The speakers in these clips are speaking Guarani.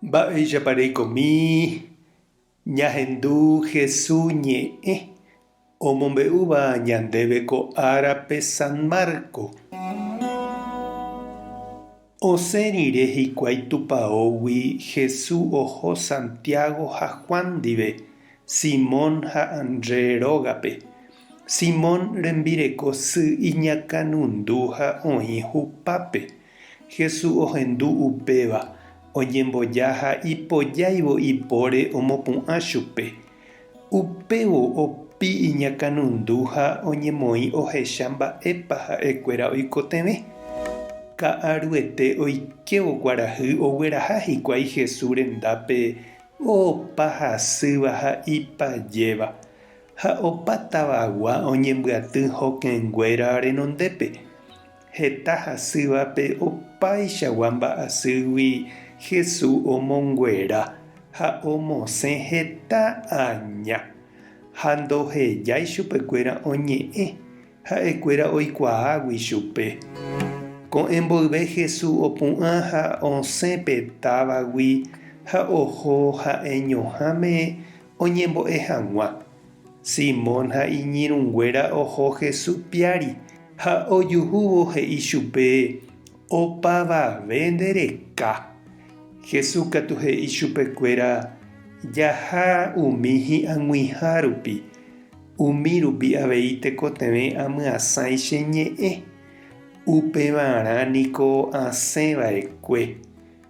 Mba'éichapa reikomi ñahendu Hesu ñe'ẽ omombe'úva ñandéve ko árape San Marco? Osẽ rire hikuái tupaógui Hesu oho Santiago ha Juan ndive, Simón ha André rógape. Simón rembireko sy iñakãnundu ha oĩ hupápe. Jesús ohendu upéva, oñemboja ha ipojáivo ipóre omopu'ã chupe. Upévo opi iñakãnundu ha oñemoĩ ohecha mba'épa ha'ekuéra oikotevẽ. Ka'aruete oikévo kuarahy ogueraha hikuái Jesús rendápe opa hasýva ha ipajéva, ha opa tavagua oñembyaty hokẽnguéra renondépe. Heta hasývape opaichagua mba'asýgui Hesu omonguera ha omosẽ heta aña. Ha ndohejái chupekuéra oñe'ẽ ha'ekuéra oikuaágui chupe. Ko'ẽ mboyve Hesu opu'ã ha osẽ pe távagui ha oho ha'eñoháme oñembo'e hag̃ua. Simón ha iñirũnguéra oho Hesu piári ha ojuhúvo he'i chupe, Opavave nde reka. Hesu katu he'i chupekuéra, Jaha umi hi'ag̃uiha rupi, umi rupi avei tekotevẽ amyasãi che ñe'ẽ. Upevarã niko asẽ vaekue,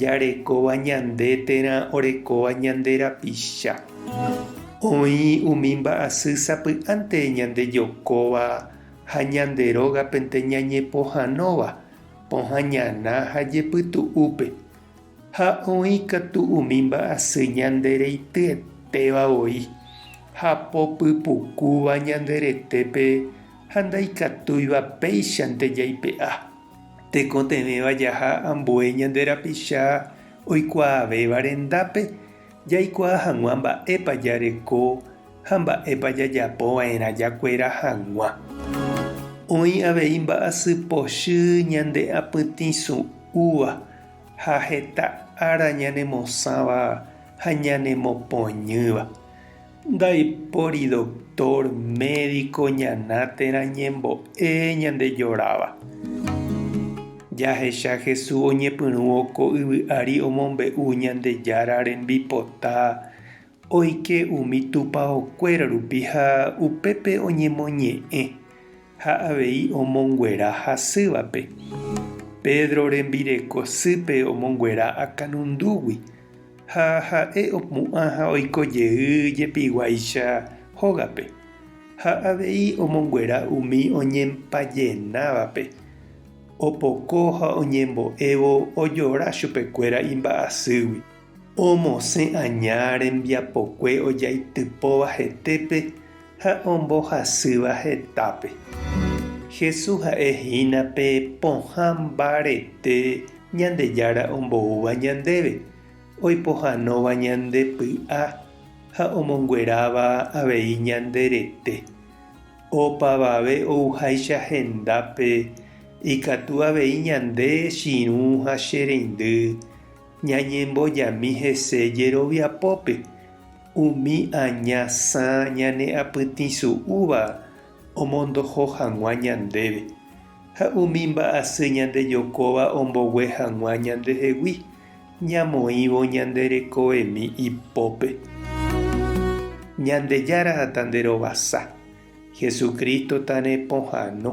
Jarekóva ñande térã orekóva ñande rapicha. Oĩ umi mba'asy sapy'ánte ñandejokóva ha ñande rógapente ñañepohãnóva pohã ñana ha jepytu'úpe. Ha oĩ katu umi mba'asy ñande reityeteva voi, hapo pypukúva ñande retépe ha ndaikatúiva péichante jaipe'a. Tekotevẽva jaha ambue ñande rapicha oikuaavéva rendápe, jaikuaa hag̃ua mba'épa jareko ha mba'épa jajapova'erã jakuera hag̃ua. Oĩ avei mba'asy pochy ñande apytĩ su'úva ha heta ára ñanemosãva ha ñanemopoñýva. Ndaipóri doctor, médico ñana térã ñembo'e ñande joráva. Jahecha Jesús oñepyrũvo ko yvy ári omombe'u Ñandejára rembipota oike umi tupaokuéra rupi ha upépe oñemoñe'ẽ. Ha avei omonguera hasývape. Pedro rembireko sýpe omonguera akanundúgui, ha ha'e opu'ã ha oiko jey jepiguáicha hógape. Ha avei omonguera umi oñempajenávape. Opoko ha oñembo'évo ojora chupekuéra imba'asýgui. Omosẽ aña rembiapokue ojaitypóva hetépe ha ombohasýva hetápe. Jesús ha'e hína pe pohã mbarete Ñandejára omboúva ñandéve, oipohãnóva ñande py'a ha omongueráva avei ñande rete. Opavave ouháicha hendápe, ikatu avei ñande chirũ ha che reindy, Ñañembojami hese jeroviapópe, umi aña sã ñane apytĩsu'úva omondoho hag̃ua ñandéve, ha umi mba'asy ñandejokóva ombogue hag̃ua ñandehegui, ñamoĩvo ñande rekoemi ipópe. Ñandejára tanderovasa, Jesucristo tarepohãno.